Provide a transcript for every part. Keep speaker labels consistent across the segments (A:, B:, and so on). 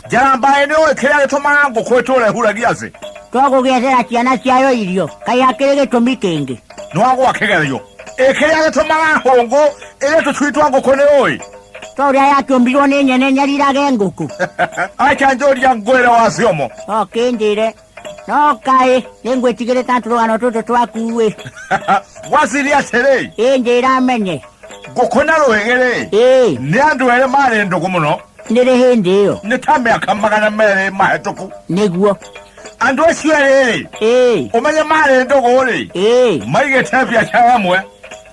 A: njara mbaĩ nĩ ũĩ kĩrĩa gĩtũmaga ngũkũ ĩtũre huragia thĩ twagũgĩethera ciana ciayo irio kaĩ hakĩrĩ gĩtũmi kĩngĩ nwagwa kĩgerio ĩ kĩrĩa gĩtũmaga hũngũ ĩrĩ tũcui twa ngũkũ nĩ ũĩ to ũrĩa yatũmbirwo nĩ nyene nyarirage ngũkũ acha njũria ngwĩre wa ciomo okĩnjĩre nokae nengwetigire tantu rugano tutu twakuwe wasiri atere inje iramenye gukona ruhegere ee ni andu ere mari ndugu muno niri hindi iyo ni ta miaka magana meri mahituku niguo andu acio eri ee umenye mari ndugu ri ee maigite biacara imwe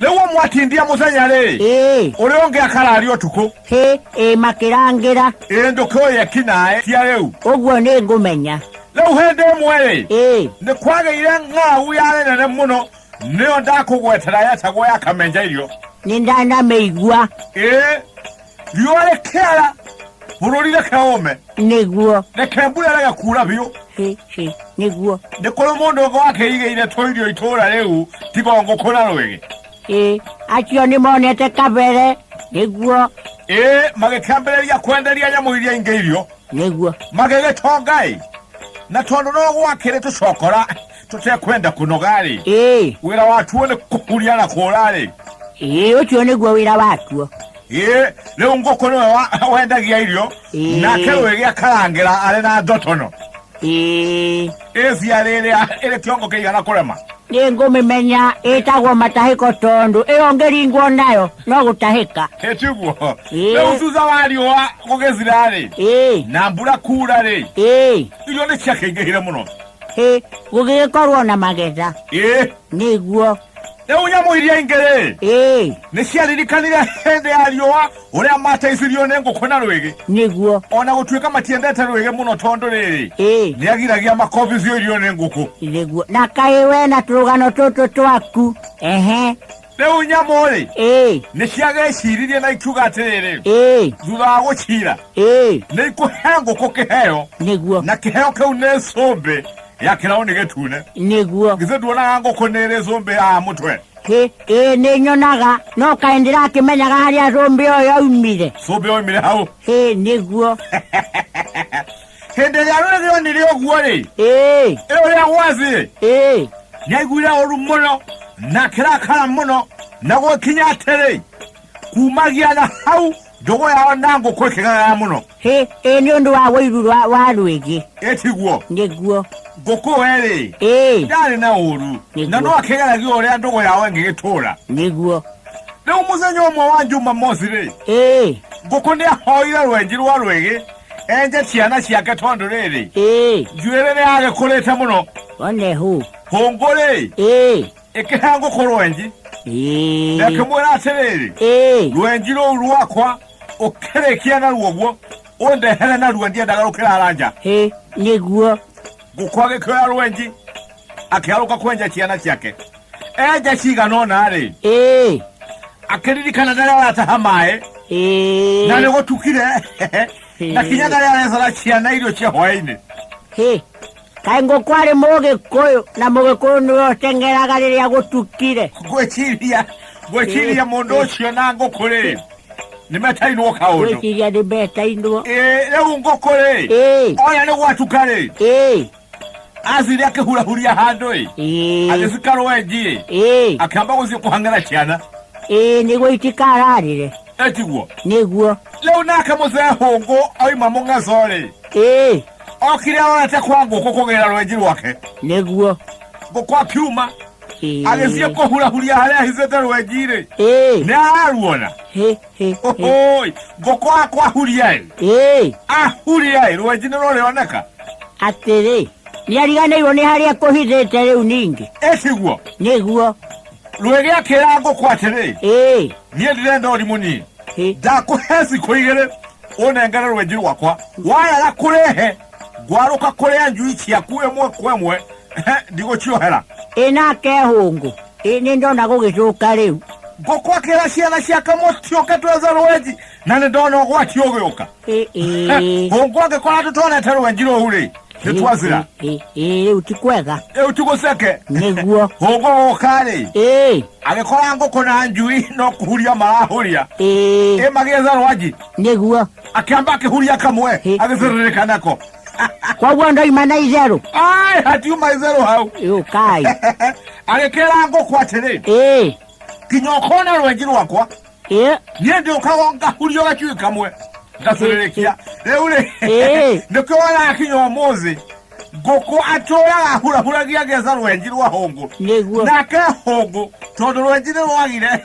A: rĩu ũmwatindia mũthenya rĩ ĩĩ ũrĩa ũngĩ akarari ũtukũ hĩ ĩ makĩrangĩra ĩĩ ndũkĩũĩ ekinaĩ cia rĩu ũguo nĩ ngũmenya rĩu hĩndĩ ĩmwe rĩ ĩĩ nĩ kwagĩire ng'aũ yarĩ nene mũno nĩyo ndakũgwetera yetagwo ya kamenjairio nĩ ndanamĩigua ĩĩ riũa rĩkĩara bũrũri reke ũme nĩguo reke mbura rega kuura biũ nĩguo nĩ kũrĩ mũndũ ũngĩ wakĩigĩire tũirio itũũra rĩu tiga ngũkũ na rwĩgĩ acio nĩ monete kabere nĩguo ĩĩ magĩkĩambĩrĩria kwenderia nyamũ iria ingĩ irio nĩguo magĩgĩtonga-ĩ na tondũ no gwakĩrĩ tũcokora tutekwenda kuno gali ee wira watuo ni kukuria na kurari ee ucio niguo wira watuo ee riu nguku niwe wa- wendagia irio Ĩĩ. nake wigia karangira ari na ndotono ee ĩcia rĩrĩa ĩrĩ kĩongo kĩigana kũrema nĩ ngũmĩmenya ĩtagwo matahĩko tondũ ĩyo ngĩringwo nayo no gũtahĩka ĩtiguo Ĩĩ. rĩu thutha wa riũa gũgĩthira-rĩ ee na mbura kura-rĩ ee irio nĩ ciakĩingĩhire mũno Ĩ, gũgĩgĩkorwo na magetha. Ĩ. Nĩguo. Rĩu nyamũ iria ingĩ rĩ. Ĩ. Nĩ ciaririkanire hĩndĩ ya riũa ũrĩa mateithirio nĩ ngũkũ na rwĩgĩ. Nĩguo. O na gũtuĩka matiendete rwĩgĩ mũno tondũ rĩrĩ. Ĩ. Nĩ agiragia makobithio irio nĩ ngũkũ. Nĩguo. Na kaĩ we na tũrũgano tũtũ twaku. Ehe. rĩu nyamũ-rĩ ĩĩ nĩ ciageciririe na ikiuga atĩrĩrĩ ĩĩ thutha wa gũcira ĩĩ nĩ ikũhe ngũkũ kĩheo nĩguo na kĩheo kĩu nĩ cũmbĩ ya kĩraũni gĩtune nĩguo githĩ nduonaga ngũkũ nĩ ĩrĩ cũmbĩ haha mũtwe Ĩ- ĩĩ nĩ nyonaga no kaĩ ndĩrakĩmenyaga harĩa cũmbĩ ũyũ aumire cũmbĩ oimire hau ĩĩ nĩguo hĩndĩ ĩrĩa rũrĩrĩ onire ũguo-rĩ ĩĩ ĩ ũrĩa gwathĩ ĩĩ nĩaiguire ũru mũno na kĩrakara mũno na gũkinya atĩrĩ kumagia na hau ndogo yao na ngũkũ ĩkĩgagaya mũno hĩ ĩ nĩ ũndũ wa ũiru wa- wa rwĩgĩ ĩtiguo nĩguo ngũkũ erĩ ĩĩ ndarĩ na ũru Nĩguo. na no akĩgeragia ũrĩa ndogo yao ĩngĩgĩtũũra nĩguo rĩu mũthenya ũmwe wa juma mosi-rĩ ĩĩ ngũkũ nĩahoire rwenji rwa rwĩgĩ enje ciana ciake tondu riri ĩĩ njuĩrĩ nĩ yagĩkũrĩte mũno one hũ hũngũ-rĩ ĩĩ ĩkĩhe ngũkũ rwenji na ĩĩ ĩkĩmwĩra atĩrĩrĩ ĩĩ rwenji rũu rwakwa ũkĩrĩkia naruo guo ũndehere naruo ndiendaga rũkĩrara nja hĩ nĩguo ngũkũ agĩkĩoya rwenji akĩarũka kwenja ciana ciake enja cigana ũna-rĩ ĩĩ akĩririkana narĩa arataha maĩ na ĩĩ nĩ gũtukire na kinya narĩa arecora ciana irio cia hwaĩ-inĩ Hĩ, kaĩ ngũkũ arĩ mũgĩkũyũ na mũgĩkũyũ nĩwe ũteng'eraga rĩrĩa gũtukire ngwĩciria ngwĩciria mũndũ ũcio na ngũkũ-rĩ nĩ metainwo kaũndũ gwĩciria nĩ mbetainwo Ĩĩ, rĩu ngũkũ-rĩ ĩĩ ona nĩ gwatuka-rĩ ĩĩ azire akihurahuri ahandu ĩ Ĩĩ, agĩcika rwenji ĩ ĩĩ, akĩamba gũthiĩ kũhang'ĩra ciana ĩĩ, nĩguo itikararĩre etiguo nĩguo rĩu nake mũcee hũngũ oima mũng'aco rĩ ĩĩ okire arorete kwa ngũkũ kũgĩra rwenji rwake nĩguo ngũkũ akiuma Ĩĩ, agĩthiĩ kũhurahuria harĩa ahithĩte rwenji rĩ ĩĩ, nĩ araruona hĩ Hĩ, hĩ. Ohoi, ngũkũ akwa huriai Ĩĩ, ahuriai rwenji nĩ rũrĩoneka atĩrĩ nĩariganĩirwo nĩ harĩa kũhithĩte rĩu ningĩ ĩtiguo nĩguo rwĩgĩakĩra ngũkũ atĩrĩ Ĩĩ, niĩ ndĩrenda ũrimũ niĩ hĩ. ndakũhe cikũ igĩrĩ ũnengere rwenji rwakwa wayaga kũrehe ngwarũka kũrĩa njui ciaku ĩmwe kwa ĩmwe ndigũciohera ĩ nake hũngũ ĩ nĩ ndona gũgĩcũka rĩu ngũkwakĩra ciana cia kamwe ciũke twethe rwenji na nĩ ndona ũgwati ũgĩũka Ĩ, ĩ, hũngũ angĩkora tũtonete rwenji rũu rĩ nĩ twazira ĩ, ĩ, rĩu ti kwega rĩu tigũceke nĩguo hũngũ gũka rĩ ĩ agĩkora ngũkũ na njui no kũhuria marahũria ĩ ĩ magĩetha rwenji nĩguo akĩamba akĩhuria kamwe Ĩ. agĩcĩrĩrĩka nako koguo ndoima na itherũ ai hatiuma itherũ hau yũkai agĩkĩra ngũkũ atĩrĩ ĩ kinya ũkona rwenji rwakwa ĩ niä ndä å kago ngahurio gacuä kamwe ngacurĩrĩkia rä u rä Ĩĩ. nä kä wona kinya å må thä ngå kå atå raga hurahuragia geca rwenji rwa hå ngå nĩguo nake hå ngå tondå rwenji nä rwagire